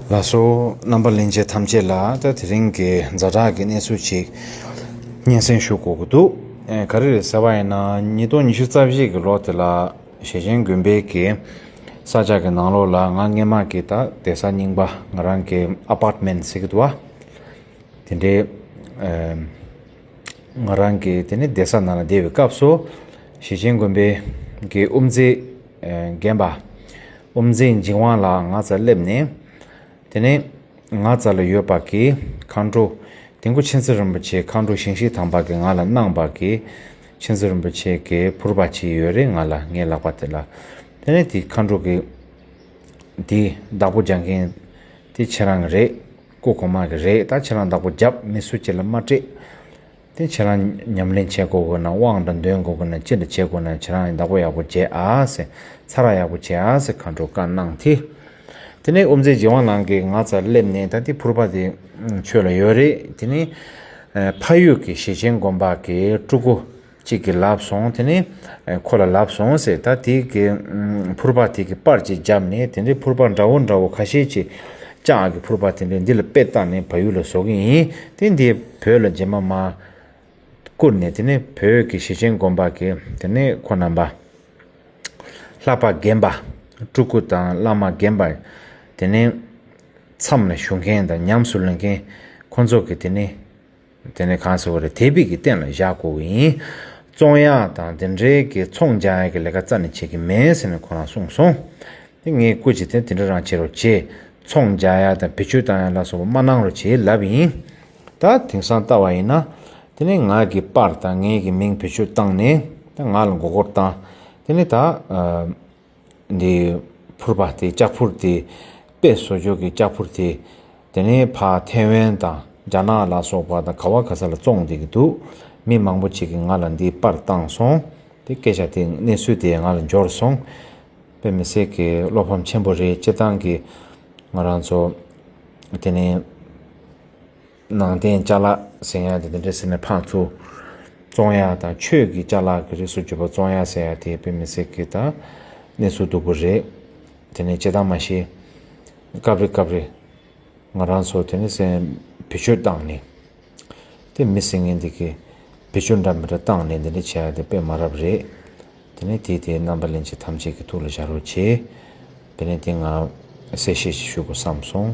ལ་སོགས་རྣམ་པ་གླིང་རྗེ་ཐམས་ཅད་ལ་ད་དེ་རིང་གི་འཛའ་དྲག་གི་གནས་ཚུལ་ཅིག་སྙན་སེང་ཞུ་དགོས་ཀྱི་འདུག་ག་རེ་རེད་ཟེར་བ་ཡིན་ན་ཉིས་སྟོང་ཉི་ཤུ་རྩ་བཞི་གི་ལོ་དེ་ལ་ཞེ་ཆེན་དགོན་པའི་གི་ས་ལྕགས་ཀྱི་ནང་ལོགས་ལ་ང་སྔན་མ་གི་ད་དེ་ས་རྙིང་པ་ང་རང་གི Apartment ཟེར་གྱི་འདུག་བ་དེ་འདྲའི་ང་རང་གི་དེ་ནས་དེ་ས་ན་ལ་བསྡད་པའི་སྐབས་སུ་ཞེ་ཆེན་དགོན་པའི་གི་དབུ་མཛད། རྒན་པ། དབུ་འཛིན་འཇིགས་དབང་ལགས་ང་ཚ་སླེབས་ནས། དེ་ནས་ང་ཚ་ལ་ཡོད་པ་གི་མཁའ་འགྲོ། དེ་མགོ་ཆེན་ཚེ་རིན་པོ་ཆེའི་མཁའ་འགྲོ་ཞིང་ཞིག་དམ་པ་གི་ང་ལ་གནང་བ་གི། ཆེན་ཚེ་རིན་པོ་ཆེ་གི་ཕུར་པ་ཅི་ཡོད་རེ་ང་ལ་ངའི་ལག་པ་དེ་ལ། དེ་ནས་དེ་མཁའ་འགྲོ་གི། དེ་བདག་པོ་རྒྱག་མཁན་དེ་ཁྱེད་རང་གི་རེད། སྐུ་གོང་མ་གི་རེད་ད་ཁྱེད་རང་བདག་པོ་རྒྱབ་མི་སུ་ཁྱེད་ལ་མ་སྤྲད། དེ་ཁྱེད་རང་ཉམས་ལེན་བྱེད་དགོས་དགོས་ན་དབང་དང་འདོན་དགོས་དགོས་ན་ཅི་འདྲ་བྱེད་དགོས་ན་ཁྱེད་རང་བདག་པོ་ཡག་པོ་བྱེད་ཨ་ཟེར། ཚ་རགས་ཡག་པོ་བྱེད་ཨ་ཟེར་མཁའ་འགྲོ་བཀའ་གནང་དེ། དེ་ནས་དབུ་མཛད་རྗེ་དབང་ལང་གིས་ང་ཚར་སླེབས་ནས་ད་ལྟའི་ཕུར་པ་དེ་ཁྱོད་ལ་ཡོད་རེད་དེ་ནས། ཕ་ཡུལ་གྱི་ཞེ་ཆེན་དགོན་པ་གི་སྤྲུལ་སྐུ་གཅིག་གིས་ལབ་སོང་དེ་ནས་ཁོ་ལ་ལབ་སོང་ཟེར་ད་དེ་གི་ཕུར་པ་དེ་གི་པར་གཅིག་བརྒྱབ་ནས་དེ་འདྲའི་ཕུར་པ་འདྲ་བོ་འདྲ་བོ་ཁ་ཤས་ཀྱི་ལྕགས་ཀྱི་ཕུར་པ་དེ་འདྲས་འདི་ལ་དཔེ་བཏགས་ནས་བ་ཡུལ་ལ་བཟོ་གི་ཡིན། དེ་འདིས་བོད་ལ་རྗེས་མ་མ། བསྐུར་ནས་དེ་ནས་བོད་ཀྱི་གཞི་ཆེན་དགོན་པ་གི་དེ་ནས་ཁོ་རྣམ་པ། ལྷག་པ་རྒན་པ། སྤྲུལ་སྐུ་དང་བླ་མ་རྒན་པ། དེ་ནས། མཚམས་ལ་བཞུགས་མཁན་དང་ཉམས་སུ་ལེན་མཁན། ཁོ་ཚོ་གི་དེ་ནས། དེ་ནི་གང་ཟེར་བ་རེད་དེ་བིས་ཀྱི་སྟེང་ལ་བཞག་དགོས་ཀྱི་ཡིན། ཙོང་ཡ་དང་དེ་འབྲེལ་གྱི་ཚོང་འཇལ་གྱི་ལས་ཀ་རྩ་ནས་བྱེད་ཀྱི་མེད་ཟེར་ནས་ཁོ་རང་གསུངས་སོང། དེ་ངས་བཀུར་བྱེད་དེ་དེ་འདྲ་རང་བྱེད་རོགས་བྱས། ཚོང་འཇལ་ཡ་དང་བེད་སྤྱོད་བཏང་ཡ་ལ་སོགས་པ་མ་གནང་རོགས་བྱས་ལབ་ཡིན། ད་དེང་སང་ལྟ་བ་ཡིན་ན། དེ་ནི་ང་གིས་པར་དང་ངེད་ཀྱི་མིང་བེད་སྤྱོད་བཏང་ནས་ད་ང་ལ་མགོ་སྐོར་བཏང། དེ་ནི་ད། འདི་ཕུར་པ་སྟེ་ལྕགས་ཕུར་སྟེ། དཔེ་བཟོ་སྦྱོར་གྱི་ལྕགས་ཕུར་དེ། དེ་ནི་ཕ་ཐའེ་ཝན་དང་རྒྱ་ནག་ལ་སོགས་པ་དང་ག་བ་ག་ས་ལ་བཙོང་བསྡད་ཀྱི་འདུག་མི་མང་པོ་ཅིག་གིས་ང་ལ་འདི་དཔར་བཏང་སོང། དེ་སྐད་ཆ་དེ་གནས་ཚུལ་དེ་ང་ལ་འབྱོར་སོང། དཔེ་མི་སྲིད་ཀྱི་བློ་ཕམ་ཆེན་པོ་རེད་སྤྱིར་བཏང་གི་ང་རང་ཚོ་དེ་ནི། ནང་བསྟན་བཅའ་ལག་ཟེར་ཡང་དེ་འདྲ་ཟེར་ན་ཕངས་ཚུལ། བཙོང་ཡ་དང་ཆོས་ཀྱི་བཅའ་ལག་གི་རིགས་སུ་གྱུར་པ་བཙོང་ཡ་ཟེར་ཡ་དེ་དཔེ་མི་སྲིད་གི་ད་གནས་ཚུལ་སྡུག་པོ་རེད། དེ་ནས་བྱེད་སྟངས་མ་ཤེས། སྐབས་རེ་སྐབས་རེ། ང་རང་ཚོ་དེ་ནས་སེམས་བེད་སྤྱོད་བཏང་ནས། དེ་མི་སྲིད་ངན་འདི་གི་བེད་སྤྱོད་འདྲ་མི་འདྲ་བཏང་ནས་འདི་འདྲ་བྱས་ཡ་དེ་དཔེ་མ་རབ་རེད། དེ་ནས་དེས་དེའི་རྣམ་པ་ལན་གཅིག་ཐམས་ཅད་ཀྱི་ཐུགས་ལ་བཞག་རོགས་གྱིས། དེ་ནས་དེ་ང་གསལ་བཤད་ཞིག་ཞུ་དགོས་བསམ་སོང།